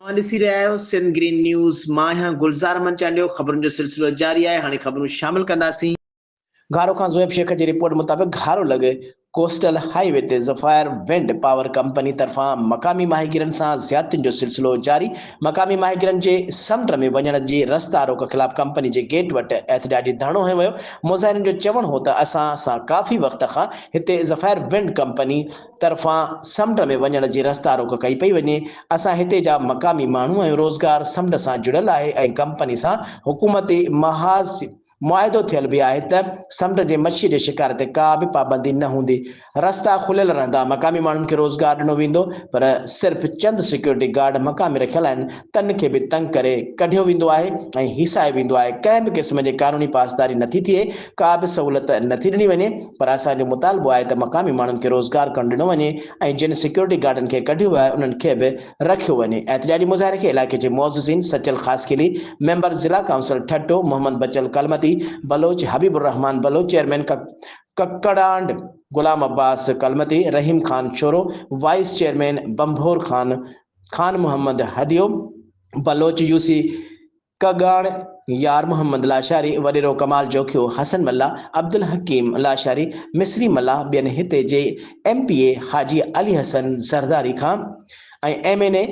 اوهان ڏسي رهيا آهيو سنڌ گرين نيوز مان آهيان گلزار احمد چانڊيو خبرن جو سلسلو جاري آهي هاڻي خبرون شامل ڪنداسين. گهارو کان زويب شيخ جي رپورٽ مطابق گهارو لڳ ڪوسٽل هائي وي تي ظفائر ونڊ پاور ڪمپني طرفان مقامي ماهيگيرن سان زيادتين جو سلسلو جاري مقامي ماهيگيرن جي سمنڊ ۾ وڃڻ جي رستا روڪ خلاف ڪمپني جي گيٽ وٽ احتجاجي ڌرڻو هنيو ويو مظاهرين جو چوڻ هو ته اسان سان ڪافي وقت کان هتي ظفائر ونڊ ڪمپني طرفان سمنڊ ۾ وڃڻ جي رستا روڪ ڪئي پئي وڃي، اسان هتي جا مقامي ماڻهو آهيون، روزگار سمنڊ سان جڙيل آهي ۽ ڪمپني سان حڪومتي محاذ معاهدو ٿيل به آهي ته سمنڊ جي مڇي جي شڪار تي ڪا به پابندي نه هوندي، رستا کليل رهندا، مقامي ماڻهن کي روزگار ڏنو ويندو پر صرف چند سيڪيورٽي گارڊ مقامي رکيل آهن، تن کي به تنگ ڪري ڪڍيو ويندو آهي ۽ هيسايو ويندو آهي، ڪنهن به قسم جي قانوني پاسداري نٿي ٿئي، ڪا به سهولت نٿي ڏني وڃي، پر اسان جو مطالبو آهي ته مقامي ماڻهن کي روزگار ڪرڻ ڏنو وڃي ۽ جن سيڪيورٽي گارڊن کي ڪڍيو ويو آهي انهن کي به رکيو وڃي، احتجاجي مظاهري کي علائقي جي معززين سچل خاصخيلي، ميمبر ضلع ڪائونسل ٺٽو، محمد بچل ڪلمتي بلوچ، حبيب الرحمان بلوچ، چيئرمين ڪڪڙانڊ Ghulam Abbas Kalmati, Rahim Khan Shoro, vice chairman Bhambhore Khan Khan Muhammad Hadyo, Baloch UC ڪڳاڻ، يار محمد لاشاري، وڏيرو ڪمال جوکيو، حسن ملاح، عبدالحڪيم لاشاري، مصري ملاح ٻين هتي جي M P A Haji Ali Hassan Zardari Khan ۽ M N A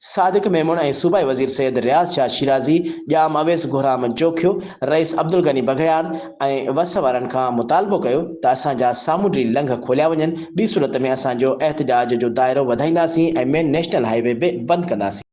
Sadiq Memon ۽ صوبائي وزير سيد رياض شاهه شيرازي، ڄام اويس گهرام جوکيو، رئيس عبدالغني بگهياڻ، ۽ وس وارن کان مطالبو ڪيو ته اسان جا سامونڊي لنگهه کوليا وڃن، ٻي صورت ۾ اسان جو احتجاج جو دائرو وڌائينداسين ۽ مين نيشنل هاء وي به بند ڪنداسين.